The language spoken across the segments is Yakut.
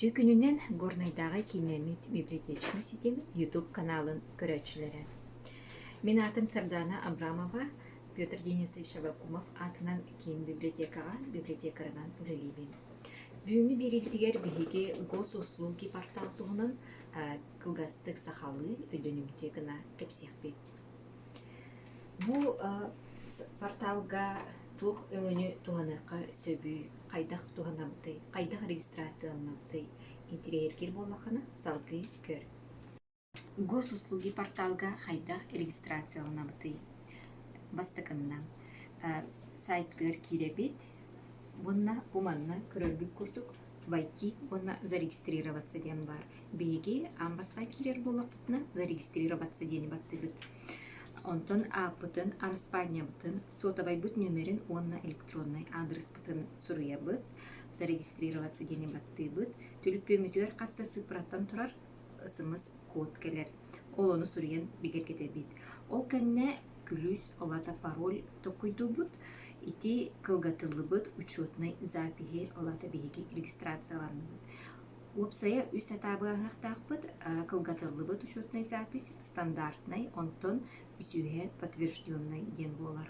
Ичи күнүнэн Горнайдааҕы киинэмит библиотечный ситим YouTube каналын көрөөччүлэрэ. Мин аатым Сардаана Абрамова, Петр Денисович Авакумов аатынан киин библиотекаҕа библиотекарынан үлэлиибин. Бүгүҥҥү биэриитигэр биһиги Госуслуги портал туһунан кылгастык сахалыы өйдөнүмтүө гына кэпсиэхпит. Бу порталга туох өҥөнү туһаныахха сөбүй, хайдах туһанабытый, хайдах регистрацияланыабытый, интириэһиргиир буоллаххына салгыы көр. Госуслуги порталга хайдах регистрацияланабытый? Бастакыннан, сайтыгар киирэбит уонна бу манна көрөргүт курдук войти уонна зарегистрироваться диэн баар. Биһиги аан бастаан киирэр буоллахпытына зарегистрироваться диэни баттыыбыт. Онтон ааппытын, араспаанньабытын, суотабайбыт нүмерин уонна электроннай аадырыспытын суруйабыт, зарегистрироваться диэни баттыыбыт. Түлүпүөмүтүгэр хас да сыыппараттан турар СМС код кэлэр, ол ону суруйан бигэргэтэбит. Ол кэннэ күлүүс олата пароль толкуйдуубут. Ити кылгатыллыбыт учетнай запиһи олата биһиги регистрацияланныбыт. Уопсайа үс сатаабыаһыахтаахпыт. кылгатыллыбыт учетнай запись стандартнай, онтон үсүһэ подтвержденнай диэн буолар.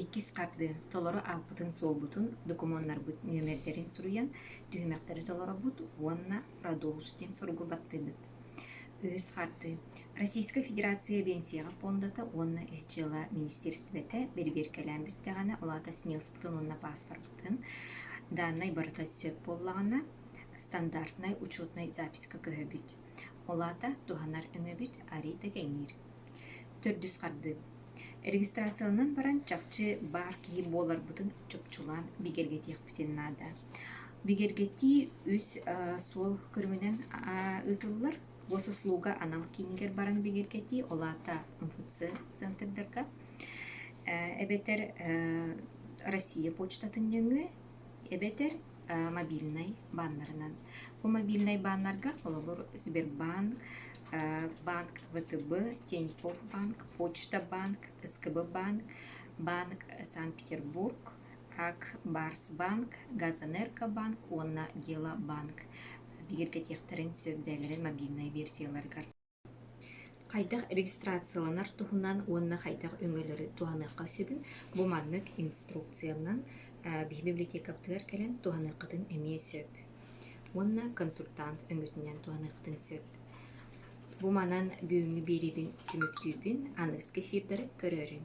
иккис хардыы толору ааппытын-суолбутун, докумуоннарбыт нүөмэрдэрин суруйан, түһүмэхтэри толоробут уонна Радоус диэн суругу баттыыбыт. Үһүс хардыы Российскай Федерация Биэнсийэҕэ пуондата уонна ис дьыала министиэристибэтэ бэрибиэркэлээн бүттэҕинэ, ол аата СНИЛСПытын уонна пааспарбытын дааннай барыта сөп буоллаҕына, стандартнай учетнай записка көһөбүт. Ол аата туһанар өҥөбүт арыйда кэҥиир. Төрдүс хардыы. Регистрациянан баран чахчы баар киһи буоларбытын чопчулаан бигэргэтиэхпитин наада. Бигэргэтии үс суол көрүҥүнэн ыытыллар. Госуслуга анал киинигэр баран бигэргэтии, ол аата МФЦ центрдарга. Эбэтэр Россия почтатын нөҥүө, эбэтэр мобильнай бааннарынан. Бу мобильнай бааннарга, холобур, Сбербанк, банк ВТБ, Тинькофф банк, Почта банк, СКБ банк, банк Санкт-Петербург, АК Барс банк, Газэнергобанк уонна Дела банк бигэргэтиэхтэрин сөп бэйэлэрин мобильнай версияларыгар. Хайдах регистрацияланар туһунан уонна хайдах өҥөлөрү туһаныахха сөбүн бу маннык инструкциянан биһи библиотекабытыгар кэлэн туһаныаххытын эмиэ сөп уонна консультант өҥөтүнэн туһаныаххытын сөп. Бу манан бүгүҥҥү биэриибин түмүктүүбүн, аныгыс кэсиирдэри көрөөрүҥ.